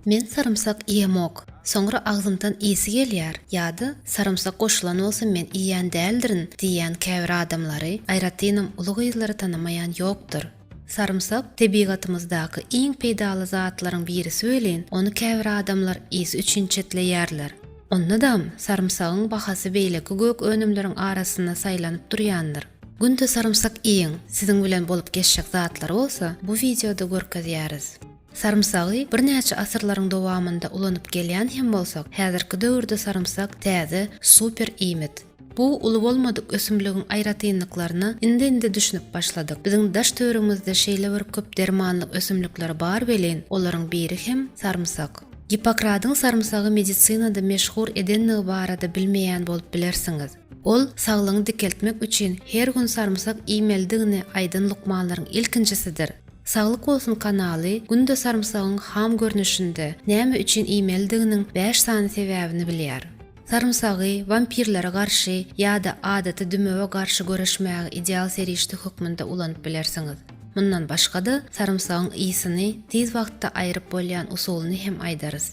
Men sarymsak iýemok. Soňra agzymdan ysy gelýär ýa-da sarymsak goşulan bolsa men iýýän däldirin diýýän käbir adamlary, aýratynam uly gyzlary tanamaýan ýokdur. Sarymsak tebigatymyzdaky iň peýdaly zatlaryň birisi welin, ony käbir adamlar ysy üçin çetleýärler. Onda-dam sarymsagyň bahasy beýleki gök önümleriň arasynda saýlanyp durýandyr. Günde sarymsak iýiň! Siziň bilen bolup geçjek zatlary bolsa bu wideoda görkezýäris. Sarymsagy birnäçe asyrlaryň dowamynda ulanyp gelýän hem bolsak, häzirki döwürde sarymsak täze, super iýmit. Bu uly bolmadyk ösümligiň aýratynlyklaryna indi-indi düşünip başladyk. Biziň daş-töweregimizde şeýle bir köp dermanlyk ösümlikler bar welin, olaryň biri hem sarymsak. Gippokradyň sarymsagy medisinada meşhur edendigi barada bilmeýän bolup bilersiňiz. Ol saglygyňy dikeltmek üçin her gün sarymsak iýmelidigini aýdan lukmanlaryň ilkinjisidir. Saglyk bolsun kanaly günde sarymsagyň ham görnüşinde näme üçin iýmelidiginiň bäş sany sebäbini bilýär. Sarymsagy wampirlere garşy ýa-da adaty dümewe garşy göreşmäge ideal serişde hökmünde ulanyp bilersiňiz. Mundan başga-da, sarymsagyň ysyny tiz wagtda aýryp bolýan usulyny hem aýdarys.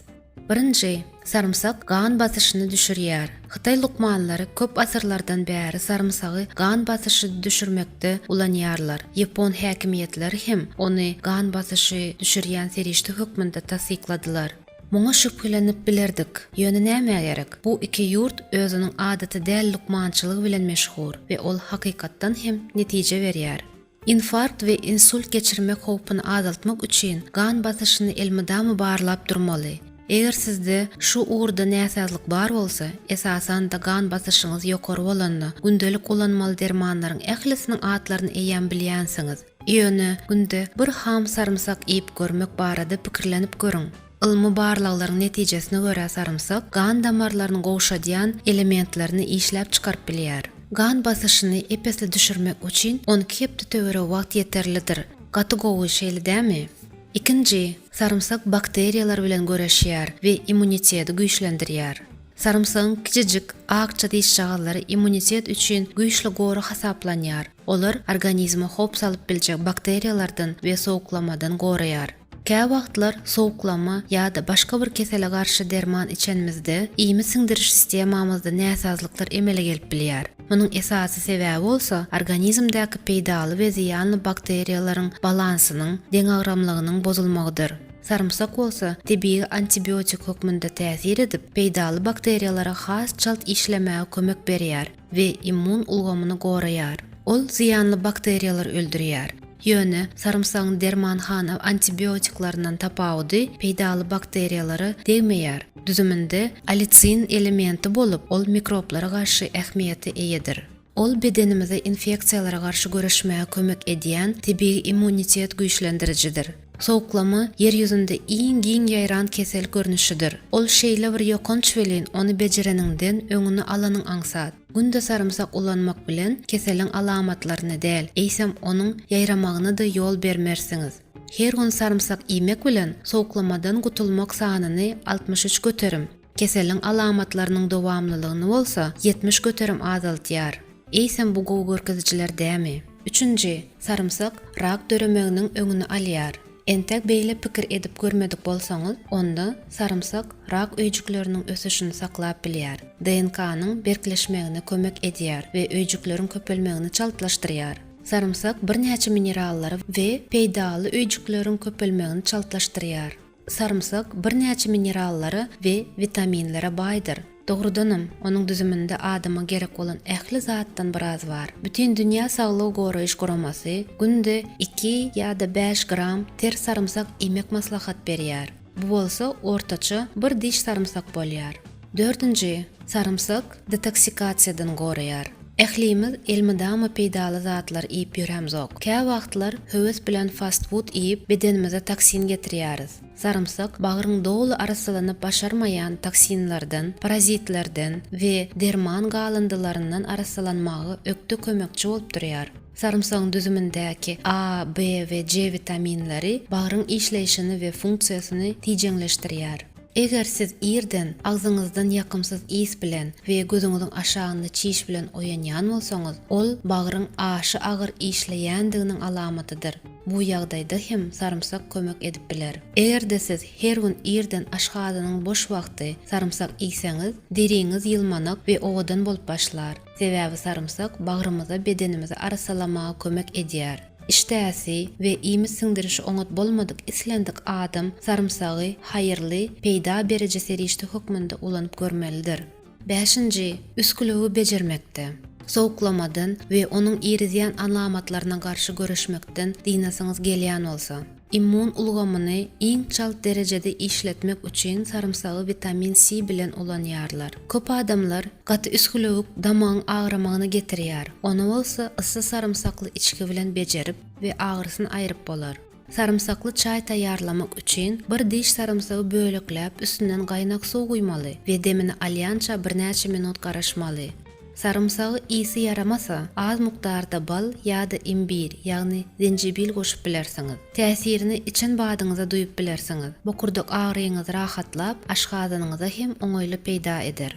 Birinji, sarymsak gan basyşyny düşürýär. Hytaý lukmanlary köp asyrlardan bäri sarymsagy gan basyşy düşürmekde ulanýarlar. Ýapon häkimiýetleri hem ony gan basyşy düşürýän serişde hökmünde tassykladylar. Muňa şübhelenip bilerdik. Ýöne nämä gerek? Bu iki ýurt özüniň adaty däl lukmançylygy bilen meşhur we ol hakykatdan hem netije berýär. Infarkt we insult geçirmek howpuny azaltmak üçin gan basyşyny elmydama barlap durmaly. Eger sizde şu ugurda näsazlyk bar bolsa, esasan-da gan basyşyňyz ýokary bolanda, gündelik ulanmaly dermanlaryň ählisiniň atlaryny eýýäm bilýänsiňiz. Ýöne günde bir ham sarymsak iýip görmek barada pikirlenip görüň. Ylmy barlaglaryň netijesine görä sarymsak gan damarlaryny gowşadýan elementlerini işläp çykaryp bilýär. Gan basyşyny ep-esli düşürmek üçin on iki hepde töweregi wagt ýeterlidir. Gaty gowy, şeýle dämi? Ikinji, sarymsak bakteriýalar bilen göreşýär we immuniteti güýçlendirýär. Sarymsagyň kiçijik, akja dişjagazlary immunitet üçin güýçli gory hasaplanýar. Olar organizme howp salyp biljek bakteriýalardan we sowuklamadan goraýar. Käwagtlar sowuklama ýa-da başga bir kesele garşy derman içenimizde iýmit siňdiriş sistemamyzda näsazlyklar emele gelip bilýär. Munuň esasy sebäbi bolsa organizmdäki peýdaly we zyýanly bakteriýalaryň balansynyň, deňagramlygynyň bozulmagydyr. Sarymsak bolsa tebigy antibiotik hökmünde täsir edip, peýdaly bakteriýalara has çalt işlemäge kömek berýär. we immun ulgamyny goraýar. Ol zyýanly bakteriýalary öldürýär. Ýöne, sarymsagyň dermanhana antibiotiklerininden tapawudy peýdaly bakteriýalara degmeýär. Düzüminde alicin elementi bolup, ol mikroblara garşy ähmiýete eýedir. Ol bedenimize infeksiýalara garşy göreşmäge kömek edýän tebigy immunitet güýçlendirijidir. Sowuklama Ýer ýüzünde iň giň ýaýran kesel görnüşidir. Ol şeýle bir ýokanç welin, ony bejereniňden, öňüni alanyň aňsat. Günde sarymsak ulanmak bilen keseliň alamatlaryny däl, eýsem onuň ýaýramagyna-da ýol bermersiňiz. Her gün sarymsak iýmek bilen sowuklamadan gutulmak sanyny altmyş üç göterim, Keseliň alamatlarynyň dowamlylygyny bolsa ýetmiş göterim azaltýar. Eýsem bu gowy görkezijiler dämi? Üçünji, sarymsak rak döremeginiň öňüni alýar. Entek beýle pikir edip görmedik bolsaňyz, onda sarymsak rak öýjükleriniň ösüşini saklap bilýär, DNK-nyň berkleşmegine kömek edýär we öýjükleriň köpelmegini çaltlaşdyrýar. Sarymsak birnäçe minerallary we peýdaly öýjükleriň köpelmegini çaltlaşdyrýar. Sarymsak birnäçe minerallara we witaminlere baýdyr. Dogrudanam, onuň düzüminde adama gerek bolan ähli zatdan biraz bar. Bütindünýä saglygy goraýyş guramasy günde iki ýa-da bäş gram ter sarymsak iýmek maslahat berýär. Bu bolsa ortaça bir diş sarymsak bolýar. Dördünji, sarymsak detoksikasiýadan goraýar. Ählimiz elmydama peýdaly zatlar iýip ýörämzok. Käwagtlar höwes bilen fast-fud iýip, bedenimize toksin getirýäris. Sarymsak bagryň doly arassalanyp başarmaýan toksinlerden, parazitlerden we derman galyndylaryndan arassalanmaga ökde kömekçi bolup durýar. Sarymsagyň düzümindäki A, B we C witaminleri bagryň işleýşini we funksiýasyny tijeňleşdirýär. Eger siz irden agzyňyzdan ýakymsyz ys bilen we gözüňiziň aşagynda çiş bilen oýanýan bolsaňyz, ol bagryň aşa agyr işleýändiginiň alamatydyr. Bu ýagdaýda hem sarymsak kömek edip biler. Eger-de siz her gün irden aşhazanyň boş wagty sarymsak iýseňiz, deriňiz ýylmanak we owadan bolup başlar. Sebäbi sarymsak bagrymyza bedenimizi arassalamaga kömek edýär. Işdäsi we iýmit siňdirişi oňat bolmadyk islendik adam sarymsagy haýyrly, peýda beriji serişde hökmünde ulanyp görmelidir. Bäşinji, üsgülewü bejermekde, sowuklamadan we onuň irizýän alamatlaryna garşy göreşmekden dynasyňyz gelýän bolsa. Immun ulgamyny iň çalt derejede işletmek üçin sarymsagy witamin C bilen ulanýarlar. Köp adamlar, Gaty üsgülewik damagyň agramagyna getirýär. Ony bolsa ysy sarymsakly içgi bilen bejerip we agyrysyny aýryp bolar. Sarymsakly çaý taýýarlamak üçin bir diş sarymsagy bölekläp üstünden gaýnak suw guýmaly we demini alýança birnäçe minut garaşmaly. Sarymsagy ysy ýaramasa, az mukdarda bal ýa-da imbir, ýagny zenjibil goşup bilersiňiz. Täsirini içen badyňyza duýup bilersiňiz. Bokurdak agyryňyzy rahatlap, aşgazanyňyza hem oňaýly peýda eder.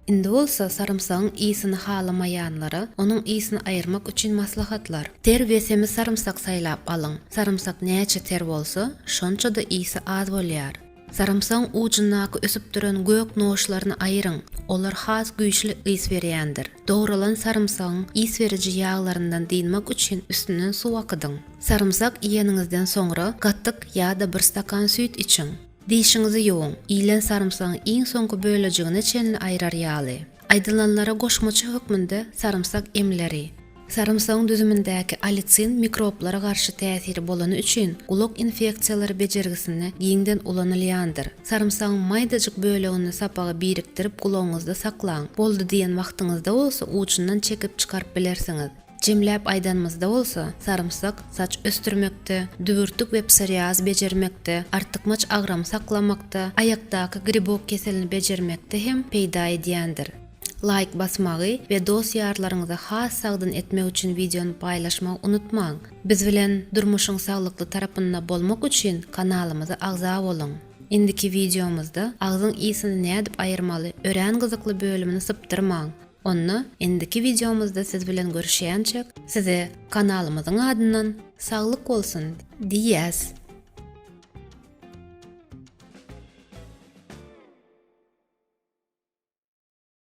Indi bolsa sarymsagyň ysyny halamaýanlara onuň ysyny aýyrmak üçin maslahatlar. Ter we semiz sarymsak saýlap alyň. Sarymsak näçe ter bolsa, şonça-da ysy az bolýar. Sarymsagyň ujundaky ösüp duran gök noşlaryny aýyryň, olar has güýçli ys berýändir. Dogralan sarymsagyň ys beriji ýaglaryndan dynmak üçin üstünden suw akydyň. Sarymsak iýeniňizden soňra gatyk ýa-da bir stakan süýt içiň. Dişiňizi ýuwuň, iýlen sarymsagyň iň soňky bölejigine çenli aýrar ýaly. Aýdylanlara goşmaça hökmünde sarymsak emleri. Sarymsagyň düzümindäki alicin mikroblara garşy täsiri bolany üçin gulak infeksiýalary bejergisinde giňden ulanylýandyr. Sarymsagyň maýdajyk bölegini sapaga birikdirip gulagyňyzda saklaň. Boldy diýen wagtyňyzda bolsa uçundan çekip çykaryp bilersiňiz. Jemläp aýdanymyzda bolsa, sarymsak saç ösdürmekde, dübürtik we psoriaz bejermekde, artykmaç agramy saklamakda, aýakdaky gribok keselini bejermekde hem peýda edýändir. Laýk basmagy we dost-ýarlaryňyza has sagdyn etmek üçin wideony paýlaşmagy unutmaň! Biz bilen durmuşyň saglykly tarapynda bolmak üçin kanalymyza agza boluň! Indiki wideomyzda agzyň ysini nädip aýyrmaly örän gyzykly bölümini sypdyrmaň! Onda indiki wideomyzda siz bilen görüşýänçäk size kanalymyzyň adyndan saglyk bolsun diýýäs.